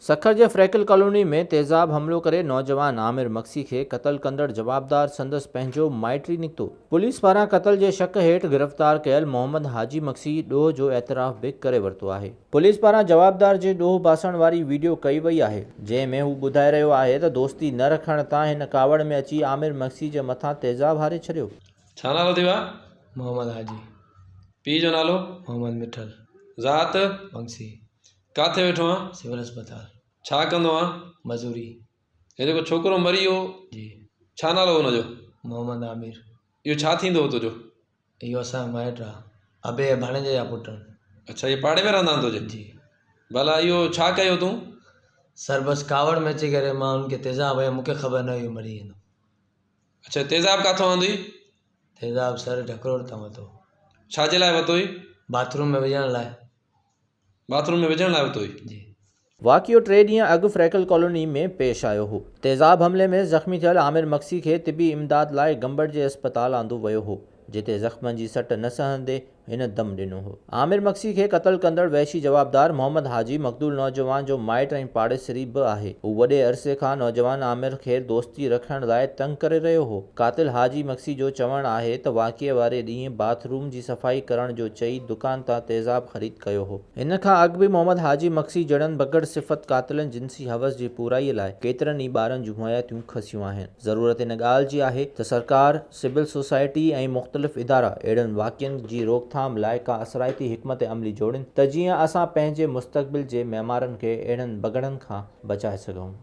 سکر جي فريڪل ڪالوني ۾ تيزاب حملو ڪري نوجوان عامر مگسي کي قتل ڪندڙ جوابدار سندس پنهنجو مائٽ ئي نڪتو. پوليس پاران قتل جي شڪ هيٺ گرفتار ڪيل محمد حاجي مگسي ڏوهه جو اعتراف به ڪري ورتو آهي. پوليس پاران جوابدار جي ڏوهه باسڻ واري ويڊيو ڪئي وئي آهي، جنهن ۾ هو ٻڌائي رهيو آهي ته دوستي نه رکڻ تان هن ڪاوڙ ۾ اچي عامر مگسي جي مٿان تيزاب هاري ڇڏيو. ڇا نالو ٿيو آهي؟ محمد حاجي. پيء جو نالو؟ محمد مٺل. ذات؟ مگسي. ڪاٿي ويٺو آهين؟ سول اسپتال. ڇا ڪندو آهين؟ مزوري. هي جيڪو ڇوڪرو مري ويو؟ جي. ڇا نالو هو ان جو؟ محمد عامر. اهو ڇا ٿيندو هو تنهنجو؟ اهو اسان جو مائٽ آ ابي جي ڀاڻيجي جا پٽ آهن اڇا اهي پاڙي ۾ رهندا آهن تنهنجي جي ڀلا اهو ڇا ڪيو تون سر بس ڪاوڙ ۾ اچي ڪري مان انهن کي تيزاب هنيو مونکي خبر نه هئي اهو مري ويندو اڇا تيزاب ڪاٿو آندو اهي تيزاب سر ڍڪڙوڙ تان وتو ڇا جي لاء وتو اهي باٿروم ۾ وجهڻ لاء باٿ روم ۾ وجهڻ لاء اتو ئي. واقعو ٽي ڏينهن اڳ فريڪل ڪالوني ۾ پيش آيو هو. تيزاب حملي ۾ زخمي ٿيل عامر مگسي کي طبي امداد لاء گمبٽ جي اسپتال آندو ويو هو، جتي زخمن جي سٽ نه سهندي هن دم ڏنو هو. عامر مگسي کي قتل ڪندڙ وحشي جوابدار محمد حاجي مقتول نوجوان جو مائٽ ۽ پاڙيسري به آهي. هو وڏي عرصي کان نوجوان عامر کي دوستي رکڻ لاء تنگ ڪري رهيو هو. قاتل حاجي مگسي جو چوڻ آهي ته واقعي واري ڏينهن باٿ روم جي صفائي ڪرڻ جو چئي دڪان تان تيزاب خريد ڪيو هو. ان کان اڳ به محمد حاجي مگسي جهڙن بگهڙ صفت قاتلن جنسي حوس جي پورائي لاء ڪيترن ئي ٻارن جون حياتيون کسيون آهن. ضرورت ان ڳالهه جي آهي ته سرڪار، سول سوسائٽي ۽ مختلف ادارا اهڙن واقعن جي روڪٿام لاء ڪا اثرائتي حڪمت عملي جوڙين ته جيئن اسان پنهنجي مستقبل جي معمارن کي اهڙن بگهڙن کان بچائي سگهون.